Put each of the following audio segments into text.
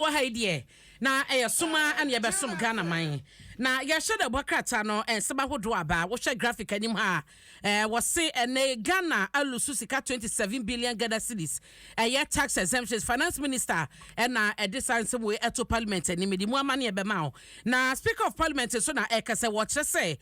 Wɔ ha yi deɛ, na ɛyɛ som ara na yɛbɛsom Ghana man. Na yɛahyɛ da bɔ krataa no nsɛm ahodoɔ aba. Wohwɛ graphic anim ha a, eh, wɔse ɛnɛ yi Ghana alusu sika 27 billion Ghana cedis. Ɛyɛ tax exemptions. Finance Minister ɛna ɛde saa nsɛm wei ɛto Parliament anim. Mede mu amaneɛ bɛma wo. Na Speaker of Parliament nso na ɛka sɛ wɔkyerɛ sɛ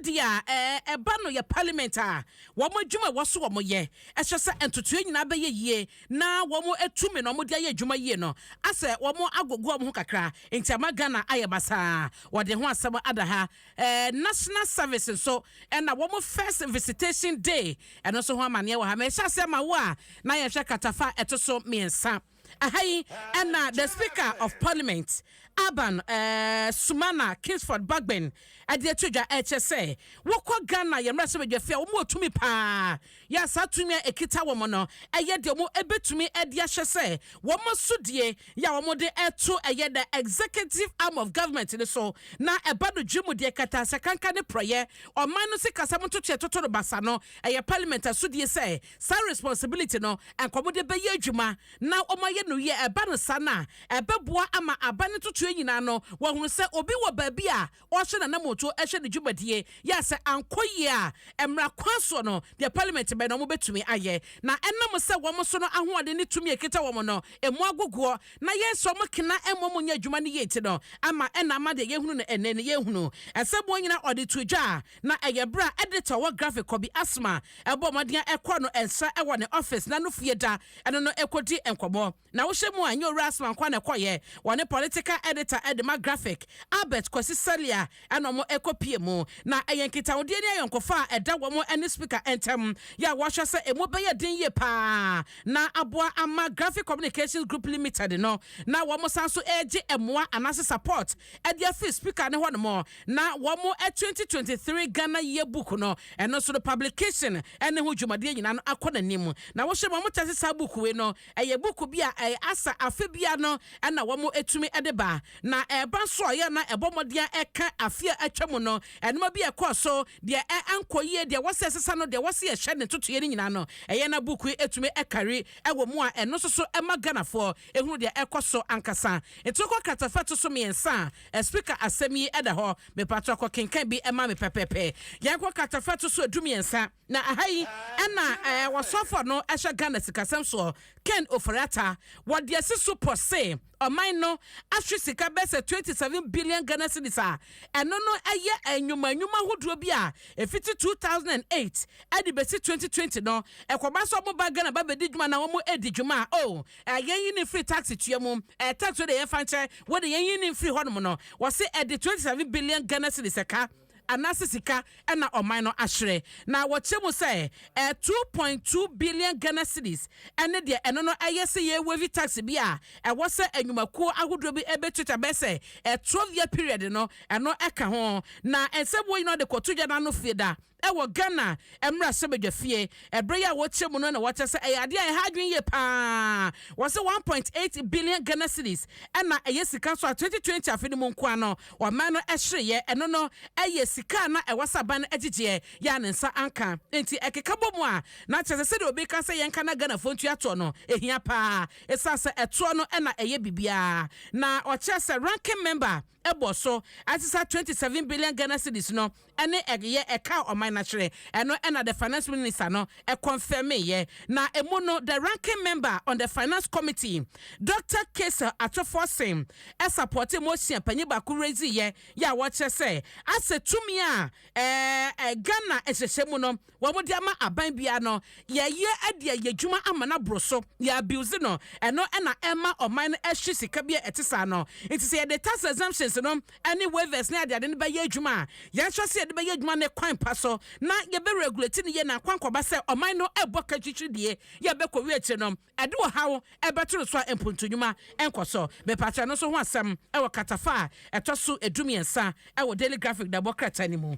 sɛdeɛ eh, ɛba no yɛ Parliament a wɔn adwuma a ɛwɔ so wɔyɛ, ɛhyɛ sɛ ntotoeɛ nyinaa bɛyɛ yie na wɔatu me na wɔde ayɛ adwuma yie no asɛ wɔagogo wɔn ho kakra nti ama Ghana ayɛ basaa wɔde ho asɛm ada ha eh, National Service nso ɛna wɔn first visitation day ɛno nso ho amaneɛ wɔ ha mehyɛ aseɛ ma wo a na yɛhwɛ katafa ɛto so mmiɛnsa aha yi ɛna the Speaker of Parliament Aban eh, Sumana Kingsford Bagbin ɛde ato dwa ɛkyɛ sɛ wokɔ Ghana yɛ mmarahyɛ badwafie a wɔn wɔ tumi paa Yɛ saa tumi a ɛkita wɔn no yɛ deɛ wɔbɛtumi de ahyɛ sɛ wɔn asodie yɛ a wɔde to ɛyɛ the executive arm of government no so na ɛba no dwe mu deɛ ɛkata asakanka ne porɔeɛ ɔman no sikasɛm ntotoeɛ toto no basa no ɛyɛ parliament asodie sɛ saa responsibility no nka wɔde bɛyɛ adwuma na wɔayɛ no yie ɛba no saa no a ɛbɛboa ama aban ntotoeɛ nyinaa no wɔahunu sɛ obi wɔ baabi a ɔhyɛ n'anamɔto hyɛ ne dwumadie yɛ a sɛ ankɔ yie a mmra kwan soɔ no deɛ parliament bɛn na wɔn bɛtumi ayɛ na ɛnam sɛ wɔn so no ahoɔden ne tumi a ɛkita wɔn no ɛmu agogoɔ na yɛ sɛ wɔn kena mmɔ mu nyɛ adwuma no yie nti no ama ɛna ama deɛ yɛhunu no ɛnɛ no yɛhunu ɛsɛ wɔn nyina ɔde to dwa a na ɛyɛ berɛ a editor wɔ graphic kɔbi asoma ɛbɔ mmɔden a ɛkɔ no nsa ɛwɔ ne office na no fie da ɛno no ɛkɔdi nkɔmmɔ. Na wohyɛ mu a, ɛnyɛ Owura Asmah nko ara na ɛkɔeɛ. Wɔne political editor de ma graphic, Albert Kwasi Salia, ɛna wɔkɔpuee mu. Na ɛyɛ nkitahodie ne ayɔnkofa a ɛda wɔn ne Speaker ntam yɛ a wɔhwɛ sɛ ɛmu bɛyɛ den yie pa ara na aboa ama Graphic Communications Group Limited no na wɔsan nso regye mmoa anaase support de afiri Speaker no hɔnom na wɔn 2023 Ghana Yearbook no ɛno nso no publication ne ho dwumadie nyinaa no akɔ n'anim. Na wohyɛ mu a, wɔkyerɛ sɛ saa buuku wei no Ɛyɛ buku bi a ɛyɛ asa afe biara no na wɔtumi de ba. Na ɛreba nso a, ɔyɛ a na ɛbɔ mmɔden ara ɛka afe a atwa mu no nneɛma bi a ɛkɔɔ so, deɛ ankɔ yie, deɛ ɛwɔ sɛ ɛsesa no, deɛ ɛwɔ sɛ yɛhyɛ ne ntotoeɛ no nyinaa no, ɛyɛ na buku yi tumi kari wɔ mu a ɛno nso so ma Ghanafoɔ hunu deɛ ɛkɔ so ankasa. Nti wokɔ kratafa ɛto so mmiɛnsa a, Speaker asɛm yi da hɔ. Mepatɔ kɔkenkan bi ma me pɛpɛɛpɛ. Yɛnkɔ kratafa ɛto so du mmiɛnsa. Na ɛha yi na ɔsɔfɔ no hyɛ Ghana sikasɛm soɔ Ken Ofori Atta wɔ deɛ asi so pɔ se ɔman no ahwe sika bɛyɛ sɛ twenty seven billion Ghana cedis a ɛno no yɛ nnwuma nnwuma ahodoɔ bi a ɛfiti two thousand and eight de bɛsi twenty twenty no ɛkɔba sɛ wɔn ba Ghana ba bɛdi dwuma anaa wɔn ɛdi dwuma a oh yɛn yi ne firi tax tua mu eh, tax wei de yɛn fa nkyɛ wei de yɛn yi ne firi hɔ nom no wɔse ɛde twenty seven billion Ghana cedis ɛka anaase sika na ɔman no ahyerɛ na wɔkyerɛ mu sɛ ɛyɛ two point two billion Ghana cedis ɛne deɛ ɛno no ɛyɛ sɛ yɛ waive tax bi a ɛwɔ sɛ anwumakuo ahodoɔ bi ɛbɛtuatua bɛyɛ sɛ ɛyɛ twelve year period no ɛno ɛka ho na ɛnsɛ wɔn nyinaa de kɔto gya no ano fie da ɛwɔ Ghana mmarahyɛbadwa fie ɛberɛ yi a wɔkyerɛ mu no na wɔkyerɛ sɛ ɛyɛ adeɛ a ɛha adwene yie paa wɔsɛ one point eight billion Ghana cedis ɛna ɛyɛ sika so a twenty twenty afe no mu nkoa no Ɔman no hyereeɛ, ɛno no yɛ sika a na ɛwɔ sɛ aban no gyegyeɛ yɛ a ne nsa anka nti ɛkeka bɔ mu a na kyerɛ sɛ sɛdeɛ obi reka sɛ yɛnka na Ghanafoɔ ntua toɔ no ɛhia pa ara ɛsiane sɛ ɛtoɔ no na ɛyɛ biribiara na ɔkyerɛ sɛ ranking member bɔ so ɛte sɛ 27 billion Ghana cedis no ɛne ɛg yɛ ɛkaa ɔman no akyerɛ. Ɛno na the finance minister no kɔnfɛmeeɛ. Na ɛmu no the ranking member on the finance committee Doctor Casel Ato Forson sapɔɔtee motion a panyin baako raiseeɛ yɛ a wɔkyerɛ sɛ asɛ tumi a ɛɛ Ghana nhyehyɛmu no wɔde ama aban biara no, yɛyɛ de ayɛ adwuma ama no aboro so, yɛ abuse no, ɛno na ɛma ɔman no hye sika bi a ɛte saa no. Nti sɛ yɛde tax exemptions no ne waivers ne adeade no bɛyɛ adwuma a, yɛnhwɛ sɛ yɛde bɛyɛ adwuma no kwan pa so na yɛbɛ regulate no yie na akwankɔba sɛ ɔman no bɔ kakyikyi die yɛ a ɛbɛkɔwie akyire no ɛde ɔhaw bɛto no so a mpuntu nnwuma nkɔ so. Mepa kyɛ no nso ho asɛm wɔ katafa a ɛtɔ so du mmiɛnsa wɔ Daily Graphic dabɔ krataa no mu.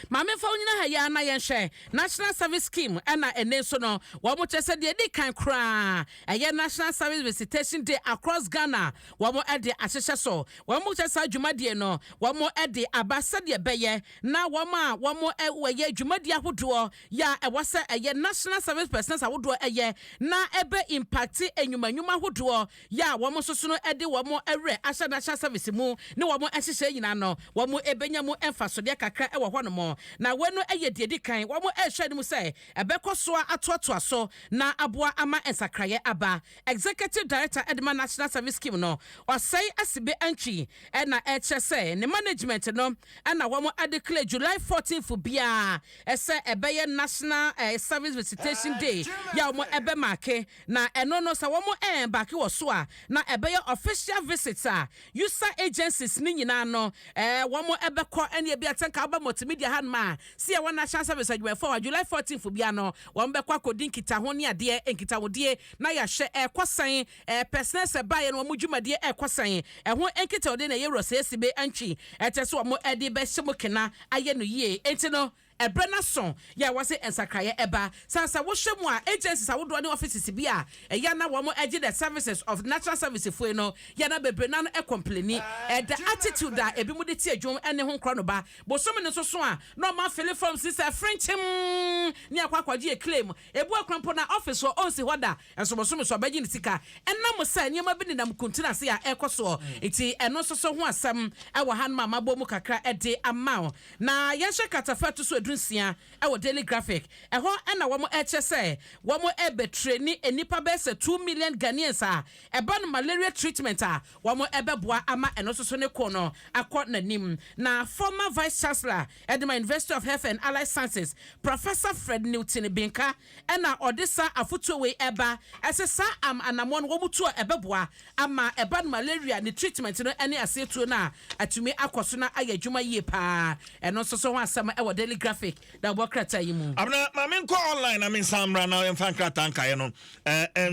Ma memfa wo nyina ha yi ara na yɛnhwɛ National Service Scheme ɛna ɛnɛ nso no wɔn kyerɛ sɛ deɛ ɛdi kan koraa ɛyɛ National Service Visitation Day across Ghana wɔn ɛde ahyehyɛ so wɔn kyerɛ saa dwumadie no wɔn ɛde aba sɛdeɛ ɛbɛyɛ na wɔn a wɔn ɛyɛ dwumadie ahodoɔ yɛ a ɛwɔ sɛ ɛyɛ National Service Personnels ahodoɔ ɛyɛ na ɛbɛ impacte nnwuma nnwuma ahodoɔ yɛ a wɔn sosono de wɔn werɛ ahyɛ n'ahyɛ sɛvese mu ne wɔn nhyehyɛe nyinaa no, wɔbenya mu mfasodeɛ kakra wɔ hɔnom. Na wei no yɛ deɛ ɛdi kan, wɔhwɛ anim sɛ ɛbɛkɔ so atoatoa so na aboa ama nsakraeɛ aba. Executive Director Edema National Service Scheme no, Osei Asibe Antwi na ɛkyerɛ sɛ ne management no na wɔn declare July fourteenth biara sɛ ɛbɛyɛ National Service Visitation Day yɛ a wɔbɛmaake Na ɛno no sɛ wɔn ɛɛn back wɔ so a na ɛbɛyɛ official visit a usa agencies no nyinaa no ɛɛ wɔn ɛbɛkɔ ɛne ebi a sɛ nka woba multimedia ha nom a sɛ yɛwɔ national service adwumayɛfoɔ wɔ July 14 fo bia no wɔn bɛkɔ akɔdi nkitaho ne adeɛ nkitahodie na yɛahwɛ ɛɛkɔ sɛn ɛɛ personnel sɛ baeɛ no wɔn dwumadie ɛɛkɔ sɛn ɛho nkitahodie na ɛyɛ wura sɛ ɛsi be antwi ɛkyɛ sɛ wɔn ɛde bɛhyɛ mo kena ayɛ no yie enti no Ɛberɛ no aso yɛ a wɔse nsakraeɛ ɛba. Saa sɛ wohwɛ mu a agencies ahodoɔ ne offices bi a ɛyɛ a na wɔn ɛgye the services of natural service foe no yɛ na bebree no ara ɛcomplaini. Ɛda attitude a ɛbinom de tie dwom ɛne ho nkorɔ no ba. Bosome no nso so a na wɔn afele forms no sɛ frenkyem ne akɔ akɔgye yɛ claim. Ebu akora mpo na office hɔ ɔnsi hɔ da. Nso bosome so ɔbɛgye ne sika ɛnam sɛ nneɛma bi nenam kuntun ase a ɛrekɔ soɔ nti. Ɛno nso so ho asɛm wɔ hanom a mabɔ mu kakra de ama wo. Na yɛnhyɛ kratafa a ɛto so edu nsia wɔ Daily Graphic. Ɛhɔ na wɔn ɛrekyerɛ sɛ wɔn rebɛtreni nnipa bɛyɛ sɛ two million Ghanaians a ɛba no malaria treatment a wɔn bɛboa ama ɛno nso so ne ko no akɔ n'anim. Na former Vice Chancellor de ma University of Health and Allied Sciences, Professor Fred Newton Binka, na ɔde saa afotuo wei ɛba, ɛsɛ saa am anamɔ no wɔn tu a ɛbɛboa ama ɛba no malaria ne treatment no ɛne aseɛ tuo no a atumi akɔ so na ayɛ adwuma yie paa. Ɛno nso so ho asɛm ɛwɔ Daily Graphic na ɛwɔ krataa yi mu. Abena, ma me nkɔ online na me nsan mmra na yɛmfa nkrataa nkaeɛ no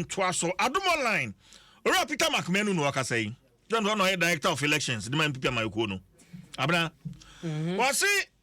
ntoa so. Adom Online, Owura Peter Mark Manu na ɔkasa yi. John Ɔno ɔyɛ Director of Elections de ma NPP amanyɔkuo no. Abena, wɔse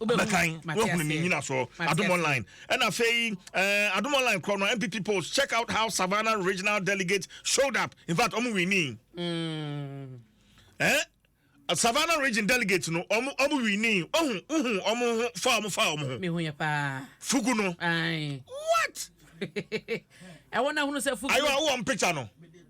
Abɛkan, wahunu ne nyinasoɔ. Adom Online. Ɛna afei, eh, Adom Online korɔ no, MPP post, check out how Savannah regional delegate showed up. In fact, ɔmo winning. Mm. Eh? Savannah region delegate no, ɔmo ɔmo winning. Ɔho, ɔho, ɔmo ho, fa ɔmo, fa ɔmo ho. Mehu yɛ paa. Fugu no. Aye. What? Ɛwɔ na hunu sɛ fugu. Ayo, awɔ mpicture no.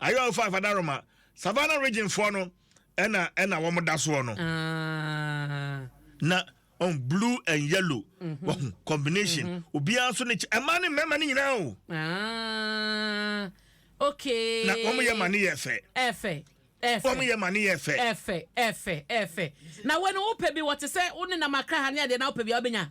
Ayewa ɔfa Fadaroma Savannah region foɔ no ɛna ɛna wɔn da soɔ no. Na on blue and yellow mhm. wɔn combination mhm. obiara nso ne kyɛ ɛmaa ne mmarima ne nyinaa o. Okay. Na wɔn yɛ ma ne yɛ fɛ. Ɛfɛ. Wɔn yɛ ma ne yɛ fɛ. Ɛfɛ ɛfɛ ɛfɛ. Na wɔn ni wopɛ bi wɔte sɛ wɔn nenam akra ha ne adeɛ na wopɛ bi a wɔbɛnya.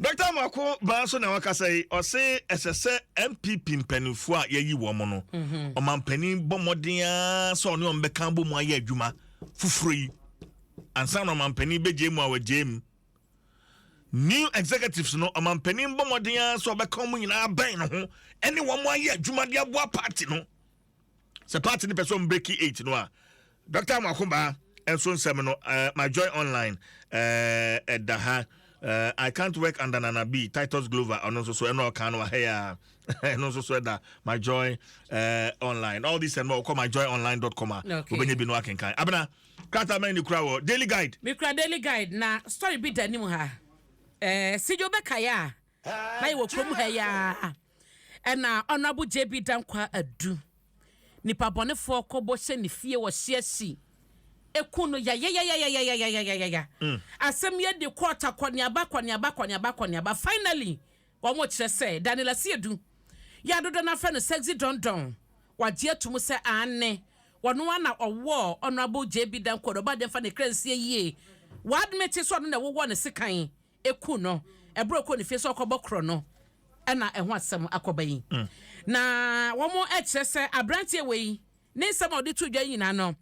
Dɔkta Amoako baa so na wakasa yi ɔse ɛsɛ sɛ NPP mpanimfoɔ a yɛyi wɔn no mhm. ɔmampanin bɔ mmɔden ara sɛ ɔne wɔn bɛka bɔ mu ayɛ adwuma foforɔ yi ansa na ɔmampanin bɛgye mu a wɔgye mu new executives no ɔmampanin bɔ mmɔden ara sɛ ɔbɛka wɔn nyinaa bɛn ne ho ɛne wɔn ayɛ adwuma de aboa party no sɛ party no pɛ sɛ ɔmo breki eight no a dɔkta amoakobaa nso nsɛm no uh, my joy online ɛda uh, ha uh, i can't work under nana b titus glover ɔno nso so ɛna ɔka no wahɛ yɛ a ɛno nso so ɛda my joy uh, online all this and more ɔkɔ my joy online dot com a wobɛnya bi no akenkan abena krataa mɛn ne kura wɔ daily guide mekura daily guide na story bi da anim ha eh, sigyo bɛkaeɛ a Na yɛwɔ kurom ha yi ara na Honourable JB Dankwah Adu, nipabɔnefoɔ kɔbɔ hyɛ ne fie wɔ Hyeasi ɛku no yayayayayayayayayaya. Asɛm yi adi kɔ ɔta kɔneaba kɔneaba kɔneaba kɔneaba. Finally, wɔkyerɛ sɛ Daniel Asiedu, yɛ a dodoɔ no ara frɛ no Sexy Don Don, wagye atum sɛ aane, ɔno ara na ɔwɔɔ Honourable JB Dankwah Adu. Ɔbaa deɛ mfa ne kra nsie yie. W'admit sɛ ɔno na ɛwowɔɔ no sekan eku no bere a ɔkɔɔ ne fie sɛ ɔkɔbɔ korɔ no na ɛho asɛm akɔba yi. Na wɔkyerɛ sɛ aberanteɛ wei ne nsɛm a ɔde too dwa yi nyinaa no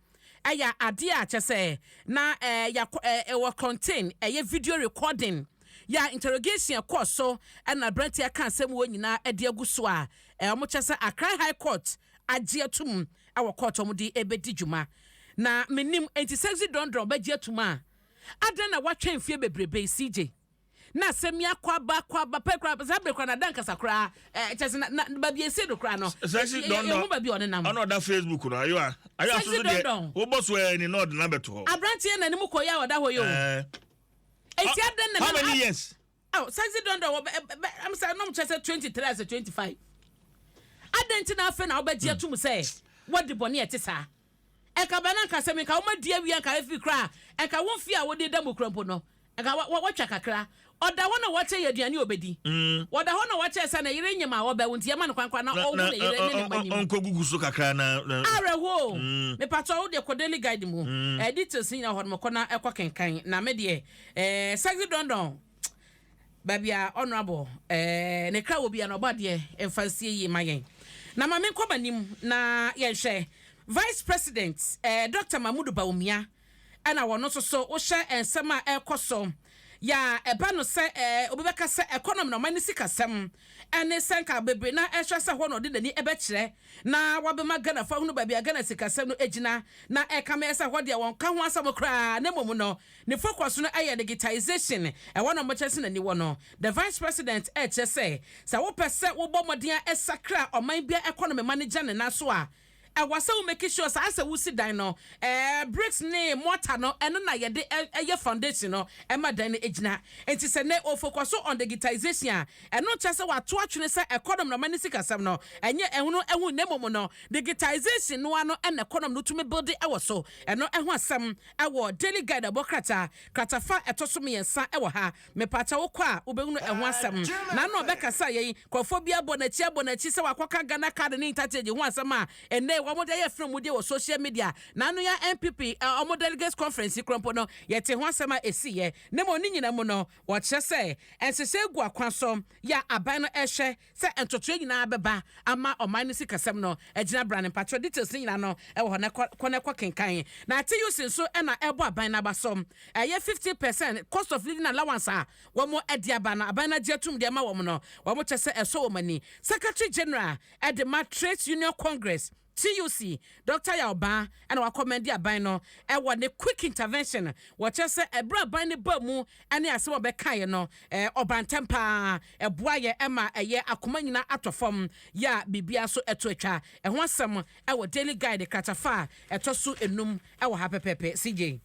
yɛ adeɛ a kyɛ sɛ na ɛwɔ kɔnten ɛyɛ video recording yɛ a interrogation ɛkɔɔ so na aberanteɛ aka asɛm wɔ nyinaa de agu so a wɔkyerɛ sɛ Accra High Court agye atum wɔ court wɔn de ɛbɛdi dwuma na menim nti sexy dɔndɔn bɛgye atum a Adɛn na woatwɛn mfeɛ bebrebe yi CJ? Na asɛm yi akɔ aba akɔ aba pɛ koraa saa bere koraa na ada nkasa koraa eh, kyɛ sɛ na, na baabi a ɛsii no koraa no Sɛ si yɛ- yɛ- dɔndɔn yɛhu baabi a ɔnenam. ɔna ɔda Facebook no ayo a ayo Sɛ si asoso deɛ dɔndɔn. wobɔ so ɛɛ ni na ɔde na bɛto hɔ Aberanteɛ na ne mu kɔeɛ a ɔda hɔ yi o. ɛɛ Enti adɛn na how na many years Oh, sexy don don wɔbɛ ɛbɛ eh, eh, ɛm sɛ nom kyɛ sɛ twenty three as a twenty five adɛn nti na afei na wobɛgye atum hmm. sɛ wɔde bɔne ɛte saa ɛka bɛn na nka sɛ menka woma di awia nka afi koraa ɛka wo mfie a wode da mu kura mpo no ɛka wɔtwa kakra ɔda hɔ na wɔkyɛ yɛ aduane ɔbɛdi hmm. ɔda hɔ na wɔkyɛ sɛ na yere nyem a ɔbɛwo nti yɛma no kwankwa na ɔwo na yere ne ne ma nim ɔnkɔgugu so kakra na awerɛhoo hmm. mepatɔ wo deɛ kɔdeli guide mu ɛdetails nyina hɔ no mɔkɔ na ɛkɔ kenkan na me deɛ Eh sexy don don Baabi a honourable eh ne kra wɔ bia no ɔbɔ adeɛ mfa nsie yie ma yɛn Na ma me nkɔ m'anim na yɛn hwɛ Vice president eh Doctor Mahmood Bawumia ɛna wɔno nso so wohyɛ nsɛm a ɛkɔ so yɛ a ɛba no sɛ eh obi bɛka sɛ economy na ɔman ne sikasɛm ɛne sɛ nka bebree na ɛhwɛ sɛ hɔ na ɔde n'ani ɛbɛkyerɛ na wabɛma Ghana fo ahunu baabi a Ghana sikasɛm no ɛgyina na ɛkame ɛsɛ hɔ deɛ wɔn ka ho asɛm koraa na mmom no Ne focus no yɛ digitization, ɛhɔ na wɔkyerɛ sɛ n'ani wɔ no. The Vice President rekyerɛ sɛ, sɛ wopɛ sɛ wobɔ mmɔden a ɛsakra a ɔman biara economy ma no gya ne nan so a, ɛwɔ sɛ wo make sure sɛ ayɛ sɛ wosi dan no. Ɛɛ, bricks ne mortar no, ɛno na yɛde yɛ foundation no ma dan no gyina. Enti sɛ nnɛ wɔfocuso on digitization a, ɛno nkyerɛ sɛ wɔato atwene sɛ economy na ɔman no sikasɛm no, ɛnyɛ ɛhono ɛho na mmom no, digitization no ara no na economy no tumi builde wɔ so. Ɛno ɛho asɛm Ɛwɔ Daily Guide ɛbɔ krataa, kratafa a ɛtɔ so mmiɛnsa ɛwɔ ha. Mepaakyɛw wokɔ a wobɛhunu ɛho asɛm. N'ano ɔbɛkasa yɛn. Nkurɔfoɔ bi abɔ n'akyi abɔ n'akyi sɛ wakɔka Ghana card ne interchange ho asɛm a ɛnnɛ wɔn de ayɛ frɛmudeɛ wɔ social media. N'ano yɛ a NPP wɔn delegates conference yi koraa mpo no yɛtee ho asɛm a ɛsiiɛ. Ne mmom ne nyinaa mu no wɔkyerɛ sɛ nhyehyɛɛ gu akwan so yɛ a aban no ɛrehwɛ. Sɛ ntotoeɛ nyinaa bɛba ama ɔman no sikasɛm no gyinabra no mpakyɛw details no nyinaa no wɔ hɔ na kɔ kɔ na kɔ kenkan. Na TUC nso na ɛbɔ aban no aba so ɛyɛ fifty per cent cost of living allowance a wɔn de aba no aban no agye atum de ama wɔn no wɔn kyɛ sɛ ɛsɔ wɔn ani. Secretary General de ma Trades Union Congress. TUC, Dɔkta Yaw Baa na wɔakɔmmɛnde aban no wɔ ne quick intervention, wɔkyerɛ sɛ ɛberɛ a aban no baa mu ne asɛm a wɔbɛkaeɛ no, ɔbaa ntɛm pa ara, ɛboaeɛ ma ɛyɛɛ akoma nyinaa atɔ fam, yɛ a biribiara nso to atwa. Ɛho asɛm wɔ Daily Guide kratafa a ɛtɔ so nnum Ɛwɔ ha pɛpɛpɛ CJ.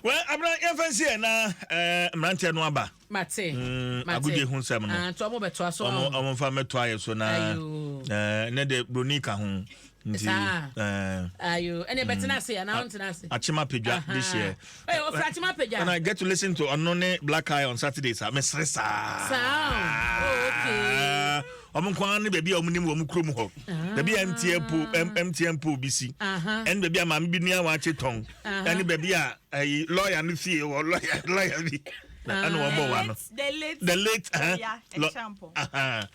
Well abena yɛnfa nsi yɛ na eh, mmeranteɛ no aba. Mate. Mm, Mate. agodie ho nsɛm no. Ah, nti ɔmo bɛtoa so Ɔmo ɔmo mfa mɛto ayɛ so na Ayo. eh, ne de broni ka ho. Nti Saa. eh, Ayo. Ɛne bɛtena ase yɛ, na ɔntena ase. Achima Pedwa Aha. this year. Ɛyɛ ɔfra Achima Pedwa. When I get to listen to ɔno ne Black Eye on Saturdays a mesere saa. Saa. Oh, okay. wɔn nko ara ne baabi a wɔn nim wɔn kurom hɔ baabi a mtn po mtn po bi si ɛne baabi a maame bi nua wakye tɔn ɛne baabi a ɛyi lɔya no fie wɔ lɔya lɔya bi ɛna wɔn bɔ wa no the late the late ɛhyɛnpɔ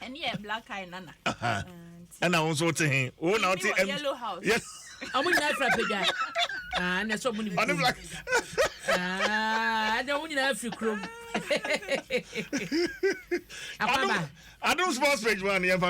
ɛne yɛ black eye nana ɛna wɔn nso te he wɔn na wɔte yellow house yes. ɔmo nyinaa fira pagya aa na ɛsɛ ɔmo nim kurom aa ɛdɛ ɔmo nyinaa firi kurom akwaba. adum sports page man yɛn fa.